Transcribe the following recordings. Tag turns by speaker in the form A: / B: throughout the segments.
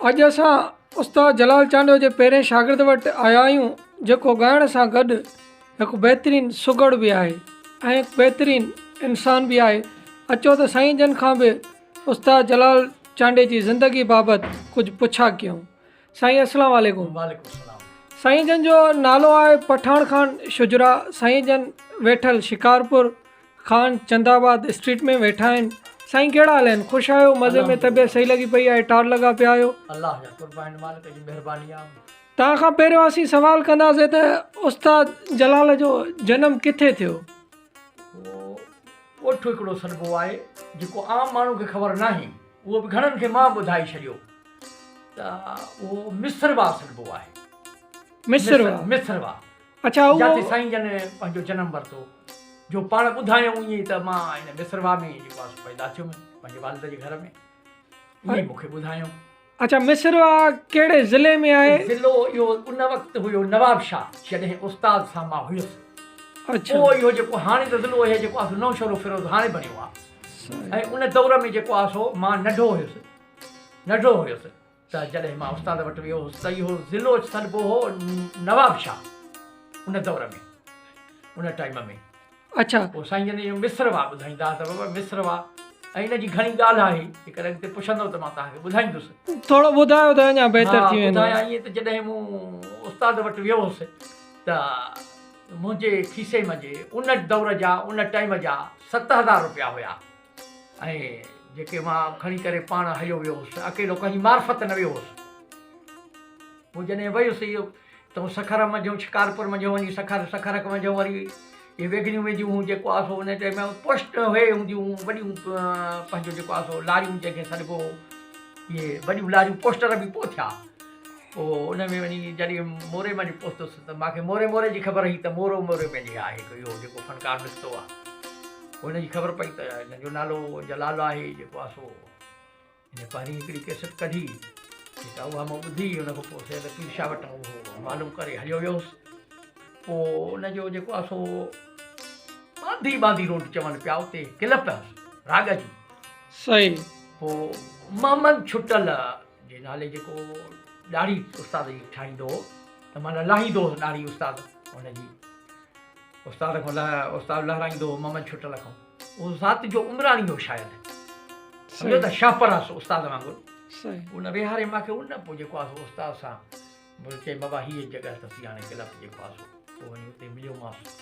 A: اڄ اسان استاد جلال چانڊيو جي پهرين شاگرد وٽ آيا آهيون جيڪو ڳائڻ سان گڏ هڪ بهترين سگهڙ به آهي ۽ هڪ بهترين انسان به آهي اچو ته سائين جن کان به استاد جلال چانڊيو جي ذندگي بابت ڪجهه پڇا ڪيون سائين اسلام عليڪم
B: سائين جن جو
A: نالو آهي پٺاڻ خان شجرا سائين جن ويٺل شڪارپور خان چند آباد اسٽريٽ ۾ ويٺا آهن. سائين ڪهڙا حال آهن؟ خوش آهيو؟ مزي ۾ طبيعت صحيح لڳي پئي آهي؟ ٽار لڳا پيا آهيو؟ الله جا قربان آهن
B: مالڪ جي مهرباني آهي. توهان کان پهريون
A: اسين سوال ڪنداسين ته استاد جلال جو جنم ڪٿي ٿيو؟ اهو
B: ڳوٺ هڪڙو سڏبو آهي جيڪو عام ماڻهو کي خبر ناهي اهو به گهڻن کي مان ٻڌائي ڇڏيو ته اهو مصرواهه سڏبو آهي. مصرواهه. مصرواهه. جاتي سائين
A: جن
B: پنهنجو جنم ورتو، جو پاڻ ٻڌايائون ائين ئي ته مان هن مصرواهه ۾ ئي جيڪو آهي سو پيدا ٿيو هيم، پنهنجي والد جي گهر ۾، ائين ئي مون کي ٻڌايائون. اچا مصرواهه
A: ڪهڙي ضلعي ۾ آهي؟ ضلعو اهو ان
B: وقت هيو نوابشاهه جڏهن استاد سان مان هيس. پوء
A: اهو جيڪو هاڻي
B: ته ضلعو اهي جيڪو آهي سو نوشهروفيروز هاڻي بڻيو آهي ۽ ان دور ۾ جيڪو آهي سو مان ننڍو هيس ننڍڙو هيس. ته جڏهن مان استاد وٽ ويو هوس ته اهو ضلعو سڏبو هو نواب شاهه ان دور ۾ ان ٽائيم ۾ اڇا پوء سائين
A: جن جو
B: مصر وا ٻڌائيندا ته بابا مصر وا ۽ ان جي گهڻي ڳالهه آهي جيڪڏهن اڳتي پڇندو ته مان توهانکي ٻڌائيندس ٿورو ٻڌايو ته
A: اڃا بهتر ٿي ويندو ها ٻڌايا ائين ته جڏهن مون
B: استاد وٽ ويو هوس ته منهنجي کيسي منجهي ان دور جا ان ٽائيم جا ست هزار روپيا هيا ۽ جيڪي مان کڻي ڪري پاڻ هليو ويو هوس، اڪيلو ڪنهن جي معرفت نه ويو هوس. پوء جڏهن ويس اهي تون سکر منجهه شڪارپور منجهه وڃي سکر، سکرڪ منجهه وري اهي ويگنيون وينديون هيون جيڪو آهي سو انهن ٽيم پشت اهي هونديون هيون وڏيون پنهنجو جيڪو آهي سو لاريون جنهن کي سڏبو هو اهي وڏيون لاريون پوسٽر به پوء ٿيا. پوء ان ۾ وڃي جڏهن موري مان جي پهتس ته مانکي موري موري جي خبر هئي ته مورو موري ۾ جي آهي هڪ اهو جيڪو فنڪار نڪتو آهي پوء ان جي خبر پئي ته ان جو نالو جلال آهي جيڪو آهي سو ان پهرين هڪڙي ڪيسٽ ڪڍي جيڪا اها مون ٻڌي ان کان پوء سيد پير شاهه وٽان اهو معلوم ڪري هليو ويوس پوء ان جو جيڪو آهي سو ٻانڌي ٻانڌي روڊ چون پيا اتي ڪلپ راڳ جي سائين
A: پوء
B: محمد ڇٽل جي نالي جيڪو ڏاڙهي استاد جي ٺاهيندو هو ته معنيٰ لاهيندو هو ڏاڙهي استاد ان جي استاد کان لاء استاد لهرائيندو هو ممن ڇٽل کان اهو ذات جو عمراڻي هو شايد سمجهو ته شاهپراس استاد وانگر ان ويهاري ماکي ان پوء جيڪو آهي استاد سان مون چيو بابا هيء جڳهه اٿس ياڻي ڪلب جي پاسو پوء وڃي اتي مليومانس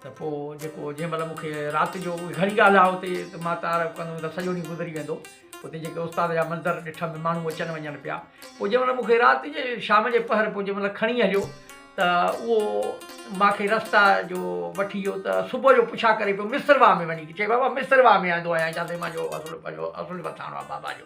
B: ته پوء جيڪو جنهن مهل مون کي رات جو گهڻي ڳالهه آ اتي ته مان تعارف ڪندم ته سڄو ڏينهن گذري ويندو اتي جيڪي استاد جا منظر ڏٺم ماڻهو اچن وڃن پيا پوء جنهن مهل مون کي رات جي شام جي پهر پوء جنهن مهل کڻي هليو ته اهو ماکي رستا جو وٺي ويو ته صبح جو پڇا ڪري پيو مصر واهه ۾ وڃي چي بابا مصر واهه ۾ آندو آهيان جاٿي مانجو اصل پنهنجو اصل وٿاڻو آ بابا جو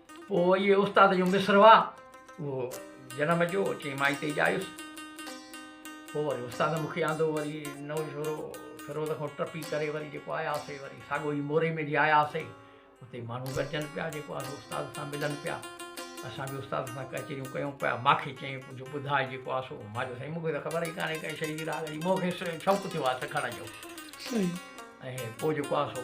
B: پوء اهي استاد جون مصر هئا. اهو جنم جو چئين مائي تي ڄايس. پوء وري استاد مون کي آندو وري نئون شورو فيروز کان ٽپي ڪري وري جيڪو آياسي وري ساڳو ئي موري ۾ جي آياسي اتي ماڻهو گڏجن پيا جيڪو آهي استاد سان ملن پيا اسان به استاد سان ڪچهريون ڪيون پيا ماکي چئين ڪجهه ٻڌاء جيڪو آهي سو ماجو سائين مون کي ته خبر ئي ڪانهي ڪنهن شيء جي راڳ جي مون کي شوق ٿيو آهي سکڻ جو ۽ پوء جيڪو آهي سو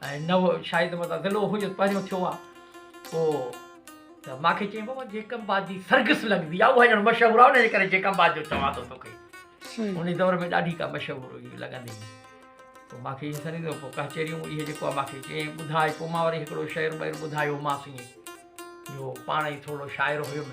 B: ۽ نه هو شايد متان ضلعو هو جو پهريون ٿيو آ پو ته مان کي چيائين بابا جيڪب آباد جي سرگس لڳبي آ اها ڄڻ مشهور آ ان جي ڪري جيڪب آباد جو چوان ٿو توکي ان دور ۾ ڏاڍي ڪا مشهور هئي لڳندي هئي پو مان کي سني ٿو پو ڪهچيريون اهي جيڪو آ مان کي چيائين ٻڌاء پو مان وري هڪڙو شعر ٻير ٻڌايومانس ائين جو پاڻ ئي ٿورڙو شاعر هيم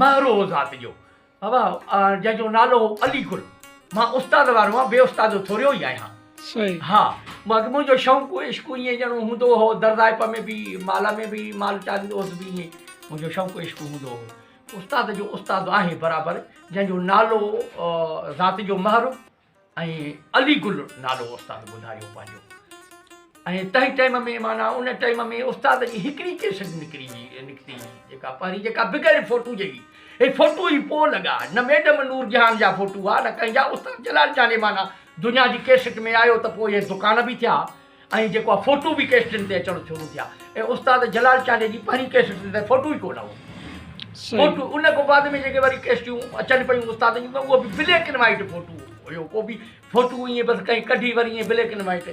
B: مهرو هو ذات جو جنهن جو نالو هو علي گل مان استاد وارو آهيان بي استاد جو ٿوريو ئي آهيان صحيح ها
A: باقي
B: منهنجو شوق عشق ائين ڄڻو هوندو هو درزائپ ۾ به مال ۾ به مال چاريندو هوس به ائين منهنجو شوق عشق هوندو هو استاد جو استاد آهي برابر جنهن جو نالو ذات جو مهرو ۽ علي گل نالو استاد ٻڌايو پنهنجو ۽ تنهن ٽيم ۾ معنيٰ ان ٽيم ۾ استاد جي هڪڙي ڪيسٽ نڪري هئي نڪتي جيڪا پهرين جيڪا بغير فوٽو جي هئي هي فوٽو ئي پوء لڳا نه ميڊم نور جهان جا فوٽو هئا نه ڪنهن جا استاد جلال جاني معنيٰ دنيا جي ڪيسٽ ۾ آيو ته پوء هي دڪان به ٿيا ائين جيڪو آهي فوٽو به ڪيسٽن تي اچڻ شروع ٿيا ۽ استاد جلال چانڊيي جي پهرين ڪيسٽ تي ته فوٽو ئي ڪو نه هو فوٽو ان کان بعد ۾ جيڪي وري ڪيسٽيون اچن پيون استاد جون ته اهو به بليڪ اينڊ وائيٽ فوٽو هيو ڪو به فوٽو ائين بس ڪئين ڪڍي وري ائين بليڪ اينڊ وائيٽ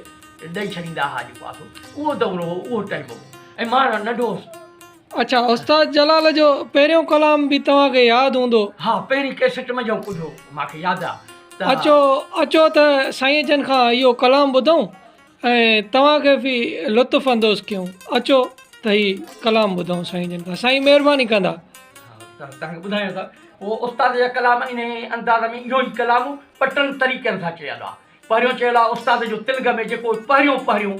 B: ڏئي ڇڏيندا هئا جيڪو آهي اهو دور هو اهو ٽائيم هو ۽ مان ننڍو هوس اڇا استاد
A: جلال جو پهريون ڪلام به توهان کي ياد هوندو. ها پهرين ڪيسٽ
B: ۾ جئون ٻڌو مان کي ياد آ ته. اچو اچو
A: ته سائين جن کان اهو ڪلام ٻڌون ۽ توهان کي به لطف اندوز ڪيون اچو ته هي ڪلام ٻڌون سائين جن کان سائين مهرباني ڪندا. ها توهان کي
B: ٻڌايان ته اهو استاد جا ڪلام انهي انداز ۾ اهو ئي ڪلام ٻه ٽن طريقن سان چيل آ پهريون چيل آ استاد جو تلڳ ۾ جيڪو پهريون پهريون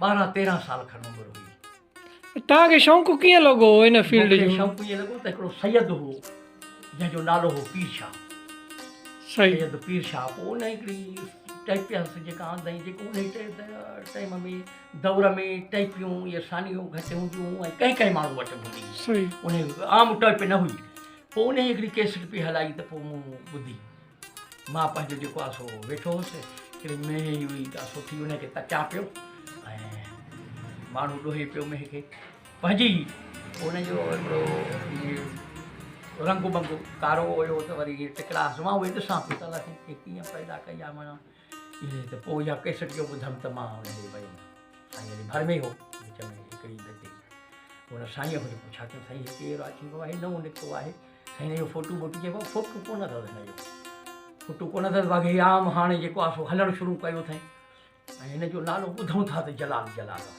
B: ٻارهن تيرهن سال کن عمر هئي. توهان کي شوق ڪيئن
A: لڳو ان فيلڊ جو؟ مون کي شوق ائين لڳو ته هڪڙو
B: سيد هو جنهن جو نالو هو پير شاهه.
A: سيد پير شاهه
B: پوء ان هڪڙي ٽيپيس جيڪا آندائين جيڪو ان ٽائيم ۾ دور ۾ ٽيپيون اهي سانيون گهٽ هونديون هيون ۽ ڪئين ڪئين ماڻهو وٽ هوندي هئي ان
A: عام ٽيپ
B: نه هئي پوء ان هڪڙي ڪيسٽ پئي هلائي ته پوء مون ٻڌي مان پنهنجو جيڪو آسو ويٺو هوس هڪڙي مينهن جي هئي آسو ٿي ان کي تچان پيو ۽ ماڻهو ڏوهي پيو مينهن کي پنهنجي ان جو هڪڙو رنگ ڀنگ ڪارو هيو ته وري ٽڪرا سواء اهي ڏسان پيو ته الله سائين کي ڪيئن پيدا ڪئي آ مانا ائين ته پوء اها ڪيسٽ جو ٻڌم ته مان ان ڏي ويم. سائين علي ڀرمي هو. وچ ۾ هڪڙي اڌ تي هن سائينء کان پڇا ڪيم سائين هي ڪير آهي؟ چيم بابا هي نئون نڪتو آهي. سائين هن جو فوٽو موٽي چيم بابا فوٽو ڪونه اٿس هن جو. فوٽو ڪونه اٿس باقي هي عام هاڻي جيڪو آهي سو هلڻ شروع ڪيو اٿئين ۽ هن جو نالو ٻڌون ٿا ته جلال جلال آهي.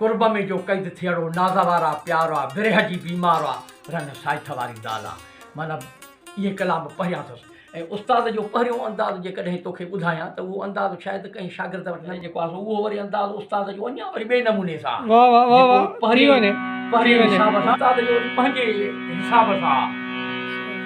B: قرب ۾ جو قيد ٿيئڙو ناز وارا پيار آ ورهه جي بيمار آ رنگ سائٿ واري دال آ معنيٰ اهي ڪلام پڙهيا اٿس ۽ استاد جو پهريون انداز جيڪڏهن توکي ٻڌايان ته اهو انداز شايد ڪنهن شاگرد وٽ نه جيڪو آ سو اهو وري انداز استاد جو اڃا وري ٻئي نموني سان آ واهه واهه واهه واهه ٿي وڃي ٿي وڃي. پنهنجي حساب سان آ.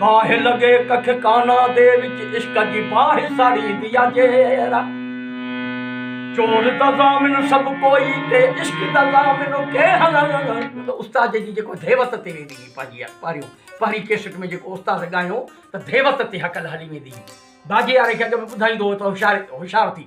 B: باهه لڳي ڪک ڪانا دي وچ عشق جي باهه ساڙي ديا جيرا چور ته ضامن سڀ ڪوئي تي عشق ته ضامن ڪي هلن ته استاد جي جيڪو ڌيوت تي ويندي هئي پنهنجي پهريون پهرين ڪيسٽ ۾ جيڪو استاد ڳايو ته ڌيوت تي هڪل هلي ويندي هئي باجي واري کي اڳ ۾ ٻڌائيندو هو ته هوشيار هوشيار ٿي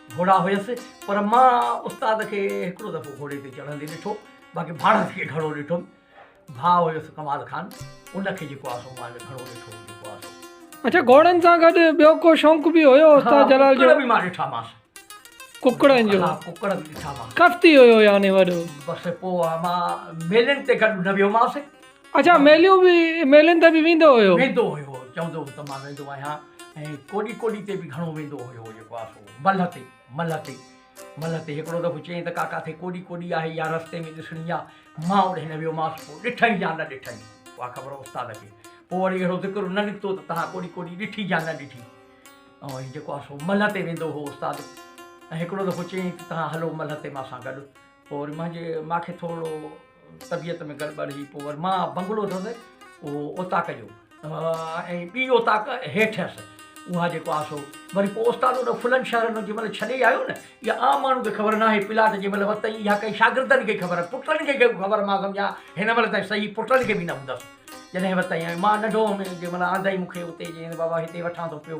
B: گهوڙا هيس پر مان استاد کي هڪڙو دفعو گهوڙي تي چڙهندي ڏٺو باقي ڀاڻس کي گهڻو ڏٺم. ڀاء هيس ڪمال خان ان کي جيڪو آسو مان به گهڻو ڏٺو هو جيڪو آسو. اڇا گهوڙن سان گڏ
A: ٻيو ڪو شونق به هيو استاد جلال جو. ها ڪڪڙ به مان ڏٺا مانس.
B: ڪڪڙن
A: جو. ها ڪڪڙ به ڏٺا مانس.
B: ڪفتي هيو يعني
A: وڏو. بس پوء مان
B: ميلن تي گڏ نه ويو مانس. اچا ميليون
A: به ميلن تي به ويندو هيو ويندو هيو چوندو هو ته
B: مان ويندو آهيان ۽ ڪوڏي ڪوڏي تي به گهڻو ويندو هيو جيڪو آسو ملهه تي ملهه تي ملهه تي هڪڙو دفعو چيائين ته ڪاڪا تي ڪوڏي ڪوڏي آهي يا رستي ۾ ڏسڻي آهي مان اوڏي نه ويوماس پوء ڏٺئي يا نه ڏٺئي اها خبر استاد کي پوء وري اهڙو ذڪر نه نڪتو ته تها ڪوڏي ڪوڏي ڏٺي يا نه ڏٺي ۽ هي جيڪو آسو ملهه تي ويندو هو استاد ۽ هڪڙو دفعو چيائين ته تها هلو ملهه تي مان سان گڏ پوء وري مانجي ماکي ٿورڙو طبيعت ۾ گڙٻڙ هئي، پوء وري مان بنگلو اٿس اهو اوطاق جو ۽ ٻي اوطاق هيٺ هيس، اها جيڪو آ سو وري پوء استاد انهن ڦلن شهرن ۾ جنهن مهل ڇڏي آيو نه، اها عام ماڻهو کي خبر ناهي، پلاٽ جنهن مهل ورتئي اها ڪئي شاگردن کي خبر، پٽن کي ڪئي خبر مان سمجهان هن مهل تائين صحيح پٽن کي به نه ٻڌس، جڏهن ورتئي آيو مان ننڍو هئم جنهن مهل آندئي مون کي اتي چيائين ته بابا هتي وٺان ٿو پيو،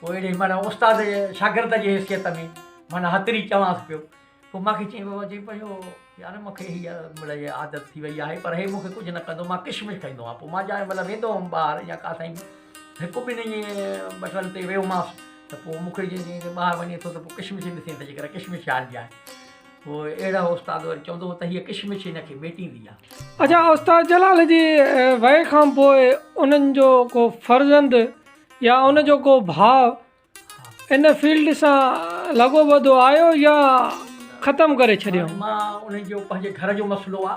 B: پوء اهڙي معنيٰ استاد جي شاگرد جي حيثيت ۾ معنيٰ هتڙي چوانس پيو. پوء مون کي چيائين بابا چيائين پيو جو يار مون کي هيء مڙئي عادت ٿي وئي آهي پر هي مون کي ڪجهه نه ڪندو مان ڪشمش کائيندو آهيان. پوء مان جانء مهل ويندو هوم ٻاهر يا ڪا سائين هڪ ٻن ائين ٻٽن تي ويومانس ته پوء مون کي جيئن جيئن ٻاهر وڃي ٿو ته پوء ڪشمش ئي ڏسين ته جيڪر ڪشمش کائڻ ڏيان. پوء اهڙا استاد وري چوندو هو ته هيء ڪشمش هن کي ميٽيندي آهي. اچا استاد
A: جلال جي ويء کان پوء انهن جو ڪو فرزند يا ان جو ڪو ڀاء ان فيلڊ سان لڳو ٻڌو آيو يا ختم ڪري ڇڏيو. مان انهن جو
B: پنهنجي گهر جو مسئلو آ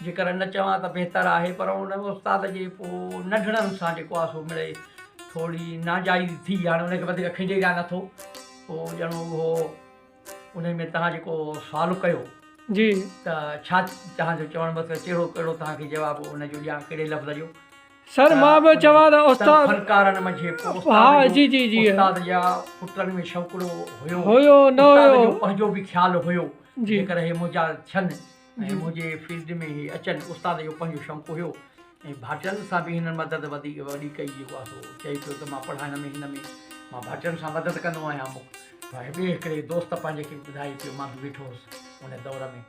B: جيڪر نه چوان ته بهتر آهي پر ان استاد جي پو ننڍڙن سان جيڪو آ سو مڙئي ٿورڙي ناجائز ٿي هاڻي ان کي وڌيڪ کينڊي ڏيان نه ٿو پو ڄڻ اهو انهي ۾ توهان جيڪو سوال ڪيو جي ته
A: ڇا
B: توهان جو چوڻ مطلب ڪهڙو ڪهڙو توهان کي جواب ان جو ڏيان ڪهڙي لفظ جو. سر مان به
A: چوان ته استاد فنڪارن منجهه هڪ
B: استاد جو جي
A: جي جي استاد جا
B: پٽن ۾ شوقڙو هيو هيو نه
A: هيو استاد جو پنهنجو به خيال هيو
B: جيڪر هي منهنجا ٿين ۽ منهنجي فيلڊ ۾ هي اچن استاد جو پنهنجو شوق هيو ۽ ڀاٽين سان به هنن مدد وڌيڪ وڏي ڪئي جيڪو آهي سو چئي پيو ته مان پڙهائڻ ۾ هن ۾ مان ڀاٽين سان مدد ڪندو آهيان ٻئي هڪڙي دوست پنهنجي کي ٻڌائي پيو مان به ويٺو هوس ان دور ۾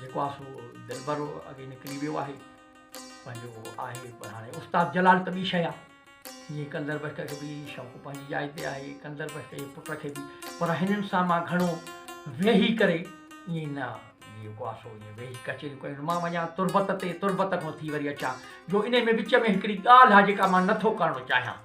B: جيڪو آ سو دلبر اڳي نڪري ويو آهي پنهنجو آهي پر هاڻي استاد جلال ته ٻي شيء آهي جيئن ڪندر بخش کي به شوق پنهنجي جاء تي آهي ڪندر بخش جي پٽ کي به پر هنن سان مان گهڻو ويهي ڪري ائين نه جيڪو آسو ائين ويهي ڪچهريون ڪيون مان وڃان تربت تي تربت کان ٿي وري اچان جو ان ۾ وچ ۾ هڪڙي ڳالهه آهي جيڪا مان نٿو ڪرڻو چاهيان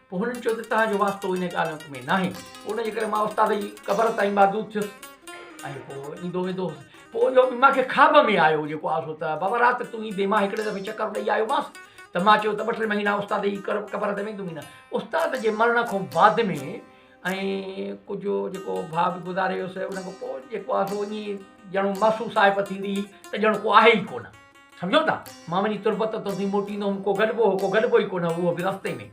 B: پوء هنن چيو ته توهان جو واسطو انهيء ڳالهه ۾ ناهي. پوء ان جي ڪري مان استاد جي قبر تائين معذور ٿيس ۽ پوء ايندو ويندو هوس. پوء اهو به مان کي خواب ۾ آيو جيڪو آسو ته بابا رات تون ايندين. مان هڪڙي دفعي چڪر ڏئي آيومانس ته مان چيو ته ٻه ٽي مهينا استاد جي قبر تي ويندم ئي نه. استاد جي مرڻ کان بعد ۾ ۽ ڪجهه جيڪو ڀاء به گذاري ويو سو ان کان پوء جيڪو آسو ائين ڄڻ محسوس آهي ته ٿيندي هئي ته ڄڻ ڪو آهي ئي ڪونه. سمجهو ٿا؟ مان وڃي تربت تون ٿي موٽيندو هوم، ڪو گڏبو هو، ڪو گڏبو ئي ڪونه هو، اهو به رستي ۾،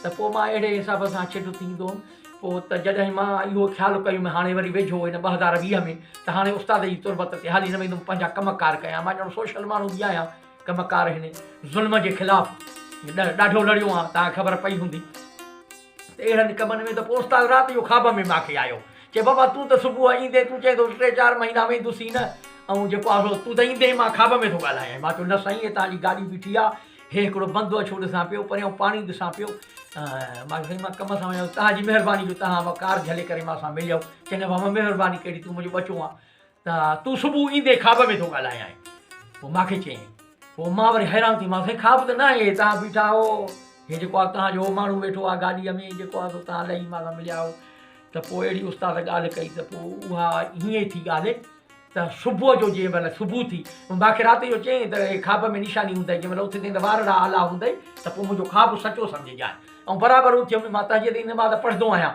B: ته پوء مان اهڙي حساب سان ڇٽ ٿيندو هوم، پوء ته جڏهن مان اهو خيال ڪيم هاڻي وري ويجهو هن ٻه هزار ويهه ۾ ته هاڻي استاد جي تربت تي هالي نه ويندم، پنهنجا ڪم ڪار ڪيان، مان ڄڻ سوشل ماڻهو به آهيان، ڪم ڪار هن ظلم جي خلاف ڏاڍو لڙيو آهيان، توهان کي خبر پئي هوندي. ته اهڙن ڪمن ۾ ته پوء استاد رات جو خواب ۾ ماکي آيو. چي بابا تون ته صبح ايندي تون چئين ٿو ته ٽي چار مهينا ويندس ئي نه ۽ جيڪو آ سو تون ته ايندي مان خواب ۾ ٿو ڳالهايانء. مان چيو نه سائين هتان جي گاڏي بيٺي آ، هي هڪڙو بندو اڇو ڏسان پيو، پريان پاڻي ڏسان پيو. مان چيو سائين مان ڪم سان وڃان ٿو، توهان جي مهرباني جو توهان اها ڪار جهلي ڪري مان سان مليو. چئي نه بابا مهرباني ڪهڙي تون منهنجو ٻچو آن. ته تون صبح ايندي خواب ۾ ٿو ڳالهايانء. پوء مان کي چيائين. پوء مان وري حيران ٿي مانس، هي خواب ته ناهي، هي توهان بيٺا آهو، هي جيڪو آهي توهان جو ماڻهو ويٺو آهي گاڏيء ۾ جيڪو آهي سو توهان لهي مان سان مليا آهيو. ته پوء اهڙي استاد ڳالهه ڪئي ته پوء اها هيئن ئي ٿي ڳالهه ته صبح جو جنهن مهل صبح ٿي پوء مان کي رات جو چيائين ته هي خواب ۾ نشاني هوندئي جنهن مهل اٿندين ته وارڙا آلا هوندئي ته پوء منهنجو خواب سچو سمجهجانء ۽ برابر اٿيم مان تهجد جي نماز پڙهندو آهيان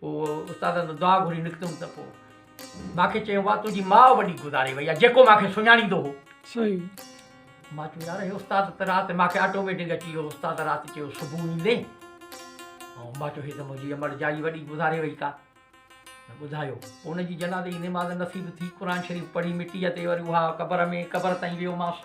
B: پوء استادن تان دعا گهري نڪتم ته پوء مان کي چيو وا تنهنجي ماء وڏي گذاري وئي آهي جيڪو مان کي سڃاڻيندو هو صحيح
A: مان چيو
B: يار هي استاد ته رات مان کي آٽوميٽڪ اچي ويو استاد رات چيو صبح ايندي ۽ مان چيو هي ته منهنجي امڙ جائي وڏي گذاري وئي ڪا ٻڌايو پوء ان جي جنازي جي نماز نصيب ٿي قرآن شريف پڙهي مٽيء تي وري اها قبر ۾ قبر تائين ويومانس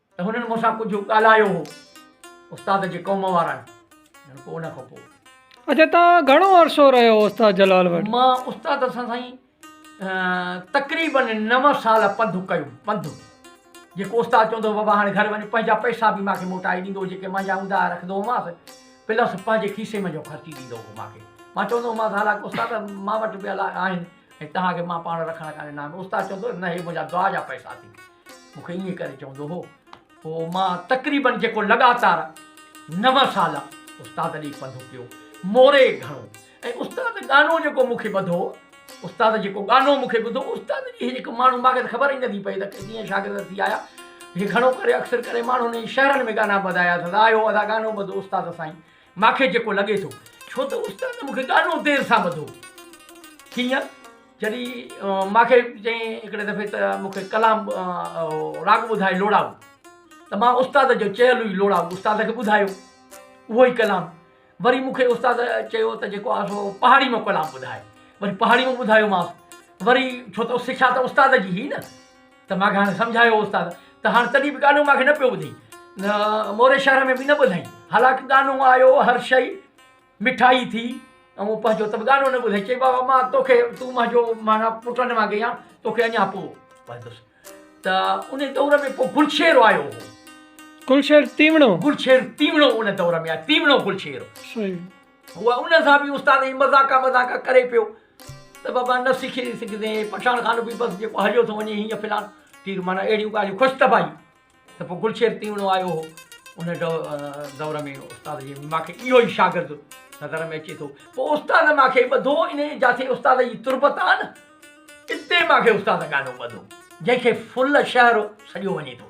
B: ته هنن مون سان ڪجهه ڳالهايو هو. استاد جي قوم وارا آهن. ڄڻ ڪو ان کان پوء. اچا توهان
A: گهڻو عرصو رهيا هئا استاد جلال وٽ؟ مان استاد سان
B: سائين تقريباً نو سال پنڌ ڪيو. پنڌ جيڪو استاد چوندو هو بابا هاڻي گهر وڃ پنهنجا پئسا به مانکي موٽائي ڏيندو هو جيڪي مانجا هوندا هئا رکندو هومانس پلس پنهنجي کيسي منجهو خرچي ڏيندو هو مانکي. مان چوندو هومانس حالانڪ استاد مان وٽ به آهن. ۽ توهان کي مان پاڻ رکڻ ڪا ڏنا آهن. استاد چوندو هو، نه هي منهنجا دعا جا پئسا اٿي. مون کي ائين ڪري چوندو هو. پوء مان تقريبن جيڪو لڳاتار نو سال استاد ڏي پنڌ پيو موري گهڻو ۽ استاد ڳانو جيڪو مون کي ٻڌو استاد جيڪو ڳانو مون کي ٻڌو استاد جي هڪ ماڻهو مان کي ته خبر ئي نٿي پئي ته ڪيئن شاگرد ٿي آيا هي گهڻو ڪري اڪثر ڪري ماڻهن شهرن ۾ ڳانا ٻڌايا اٿس آيو ادا ڳانو ٻڌو استاد سائين مان کي جيڪو لڳي ٿو. ڇو ته استاد مون کي ڏاڍو دير سان ٻڌو. ڪيئن؟ جڏهن مان کي چيائين هڪڙي دفعي ته مون کي ڪلام راڳ ٻڌاء لوڙائو ته مان استاد جو چيل ئي لوڙائو استاد کي ٻڌايو. اهو ئي ڪلام. وري مون کي استاد چيو ته جيڪو آهي سو پهاڙي مان ڪلام ٻڌاء. وري پهاڙي مان ٻڌايومانس. وري ڇو ته سکيا ته استاد جي هئي نه. ته ماکي هاڻي سمجهايو هو استاد ته هاڻي تڏهن به ڳالهيون ماکي نه پيو ٻڌي موري شهر ۾ به نه ٻڌائين حالانڪ ڳانو آيو هر شئي مٺائي ٿي ۽ پنهنجو ته به ڳانو نه ٻڌائين چئي بابا مان توکي تون منهنجو مانا پٽ نه مانگي آ توکي اڃا پوء ٻڌندس ته ان دور ۾ پوء گلشير آيو هو گلشير
A: تيوڻو گلشير تيوڻو ان دور ۾ آيو
B: تيوڻو گلشير
A: هو ان
B: سان به استاد مذاقا مذاقا ڪري پيو ته بابا نه سکي سگهندين، پٺاڻ خان به بس جيڪو هليو ٿو وڃي هينئن فلان تير معنيٰ اهڙيون ڳالهيون خوش طبعائي ته پوء گلشير تيوڻو آيو هو ان دور ۾ استاد جي مان کي اهو ئي شاگرد نظر ۾ اچي ٿو پوء استاد مان کي ٻڌو ان جاٿي استاد جي تربت آ نه اتي مان کي استاد ڳانو ٻڌو جنهن کي فل شهر سڏيو وڃي ٿو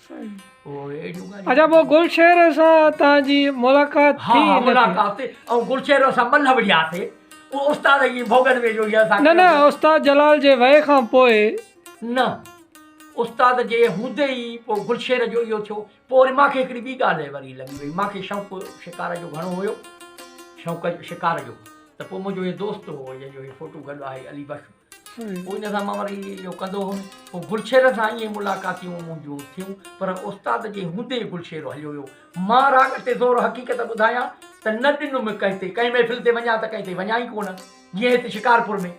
B: اچا پوء گلشير
A: سان توهان جي ملاقات ٿي؟ ها ها ملاقات ٿي
B: ۽ گلشير اسان ٻنھ وڙھياسي اھو استاد جي ڀوڳن ۾ جو هي اسان نه نه استاد
A: جلال جي وئي کان پوء نه
B: استاد جي ھوندي ئي پوء گلشير جو اھو ٿيو پوء وري مان کي ھڪڙي ٻي ڳالھ وري لڳي وئي مان کي شوق شڪار جو گھڻو ھيو شوق شڪار جو ته پوء منھنجو ھي دوست ھو جنھن جو ھي فوٽو گڏ آھي علي بخش پوء ان سان مان وري اهو ڪندو هيم پوء گلشير سان ائين ملاقاتيون منهنجون ٿيون پر استاد جي هوندي گلشير هليو ويو مان راڳ تي زور حقيقت ٻڌايان ته نه ڏنم ڪنهن تي ڪنهن محفل تي وڃان ته ڪنهن تي وڃان ئي ڪونه جيئن هت شڪارپور ۾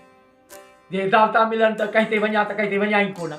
B: جي دعوتان ملن ته ڪنهن تي وڃان ته ڪنهن تي وڃان ئي ڪونه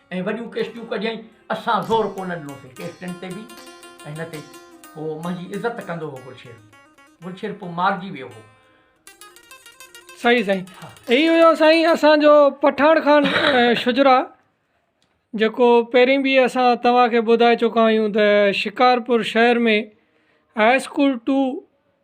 B: ۽ وڏيون ڪيسٽيون ڪڍيائين اسان زور ڪونه ڏنوسي ڪيسٽين تي به ۽ نه تي پوء منهنجي عزت ڪندو هو گلشير گلشير پوء مارجي ويو هو صحيح
A: سائين هي هيو سائين اسان جو پٺاڻ خان شجرا جيڪو پهرين به اسان توهان کي ٻڌائي چڪا آهيون ته شڪارپور شهر ۾ هاء اسڪول ٽو